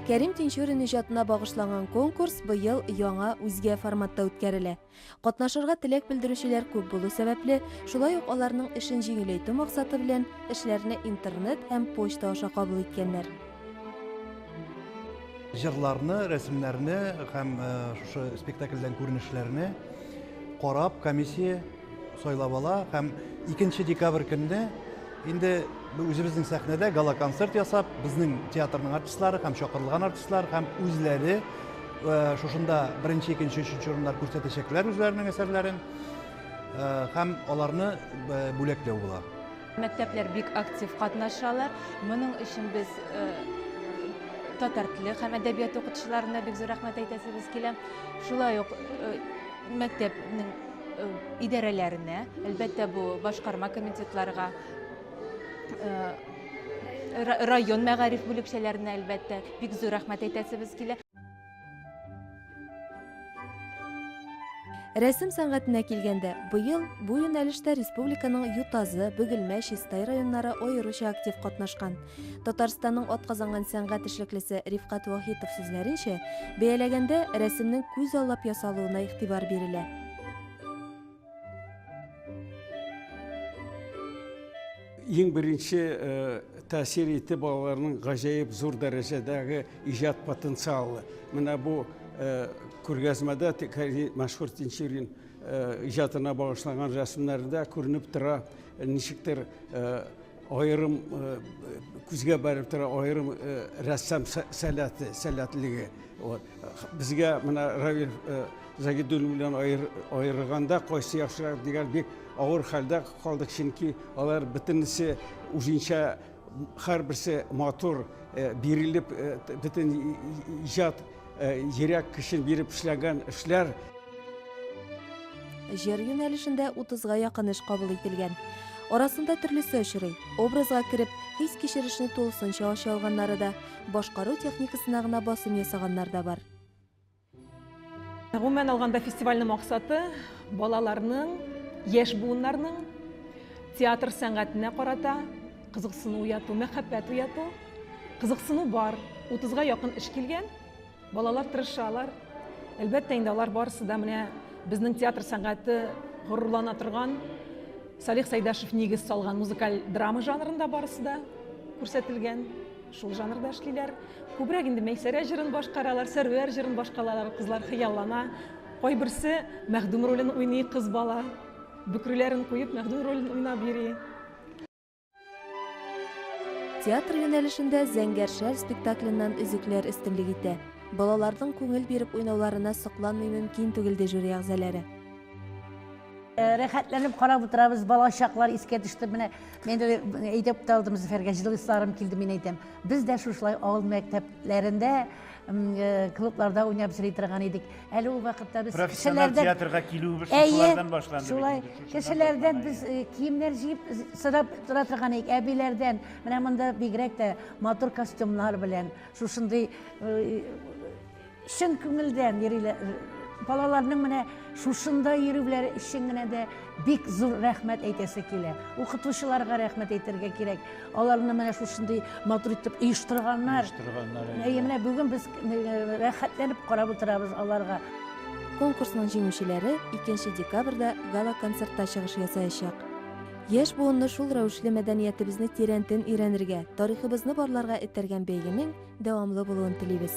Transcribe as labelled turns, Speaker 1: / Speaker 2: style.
Speaker 1: Кәрим Тинчурин иҗатына багышланган конкурс быел яңа үзгә форматта үткәрелә. Катнашырга теләк белдерүчеләр күп булу сәбәпле, шулай ук аларның эшен җиңеләйтү максаты белән эшләрне интернет һәм почта аша кабул иткәннәр.
Speaker 2: Җырларны, рәсемнәрне һәм э, шушы спектакльдән күренешләрне карап комиссия сайлап ала һәм 2 декабрь көнне инде үзебезнең сәхнәдә гала-концерт ясап, безнең театрның артистлары һәм чакырылган артистлар һәм үзләре э, шушында беренче, икенче, өченче урыннар күрсәтәчәкләр үзләренең әсәрләрен э, һәм аларны э, бүләкләү була. Мәктәпләр бик
Speaker 3: актив катнашалар. Моның өчен без татар теле һәм әдәбият укытучыларына бик зур рәхмәт әйтәсебез килә. Шулай ук мәктәпнең идарәләренә, әлбәттә, бу башкарма комитетларга, район мәгариф бүлекчәләренә, әлбәттә, бик зур рәхмәт әйтәсебез килә.
Speaker 1: Рәсем сәнгатенә килгәндә, быел бу юнәлештә республиканың Ютазы, Бөгелмә, Чистай районнары аеруча актив катнашкан. Татарстанның атказанган сәнгать эшлеклесе Рифкат Вахитов сүзләренчә, бәяләгәндә рәсемнең күз аллап ясалуына игътибар бирелә.
Speaker 4: Иң беренче тәэсир ите балаларның гаҗәеп зур дәрәҗәдәге иҗат потенциалы. Менә бу күргәзмәдә мәшһүр Тинчурин иҗатына багышланган рәсемнәрдә күренеп тора, ничектер Аерым күзгә барып тора, аерым рәссам сәләте, сәләтлеге. Безгә менә Равил Загидуллин белән аерырганда кайсы яхшырак дигән бик авыр хәлдә калдык, чөнки алар бөтенесе үзенчә һәрберсе матур бирелеп бөтен иҗат Йөрәк көчен биреп эшләгән эшләр.
Speaker 1: Җыр юнәлешендә 30-га якын эш кабул ителгән. Арасында төрлесе очрый. Образга кереп, хис кичерешне тулысынча ача алганнары да, башкару техникасына гына басым ясаганнар да бар. Гомумән
Speaker 5: алганда фестивальнең максаты балаларның, яшь буыннарның театр сәнгатенә карата Кызыксыну уяту, мәхәббәт уяту, кызыксыну бар. 30-га якын эш килгән, балалар тырышалар. Әлбәттә инде алар барысы да менә безнең театр сәнгате горурлана торган Салих Сайдашев нигез салган музыкаль драма жанрында барысы да күрсәтелгән. Шул жанрда эшлиләр. Күбрәк инде Мәйсәрә җырын башкаралар, Сәрвәр җырын башкаралар, кызлар хыяллана. Кайберсе мәхдүм ролен уйный кыз бала. Бөкреләрен куеп мәхдүм ролен уйнап йөри.
Speaker 1: Театр юнәлешендә Зәңгәр шәл спектакленнан өзекләр өстенлек итә. Балаларның күңел биреп уйнауларына сокланмый мөмкин түгел, ди жюри әгъзалары. Э,
Speaker 6: рәхәтләнеп карап утырабыз, бала чаклар искә төште. Менә мен әйтеп тә алдым Зөфәргә, җылысларым килде, мин әйтәм. Без дә шушылай авыл мәктәпләрендә, э, клубларда уйнап йөри торган идек. Әле ул вакытта без Профессиональ кешеләрдән театрга
Speaker 7: килүебез Әйе, шушылардан башланды. шулай. бит инде, шушыдан Кешеләрдән
Speaker 6: башлана, без әйе. э, киемнәр җыеп з- сорап тора торган идек, әбиләрдән. Менә монда бигрәк тә матур костюмнар белән, шушындый э, чын күңелдән йөриләр. Балаларның менә шушында йөрүләре өчен генә дә бик зур рәхмәт әйтәсе килә. Укытучыларга рәхмәт әйтергә кирәк. Аларны менә шушындый матур итеп оештырганнар. Оештырганнар. Әйе, менә бүген без рәхәтләнеп карап утырабыз аларга. Конкурсның
Speaker 1: җиңүчеләре 2 декабрьдә гала-концертта чыгыш ясаячак. Яшь буынны шул рәвешле мәдәниятебезне тирәнтен өйрәнергә, тарихыбызны барларга этәргән бәйгенең дәвамлы булуын телибез.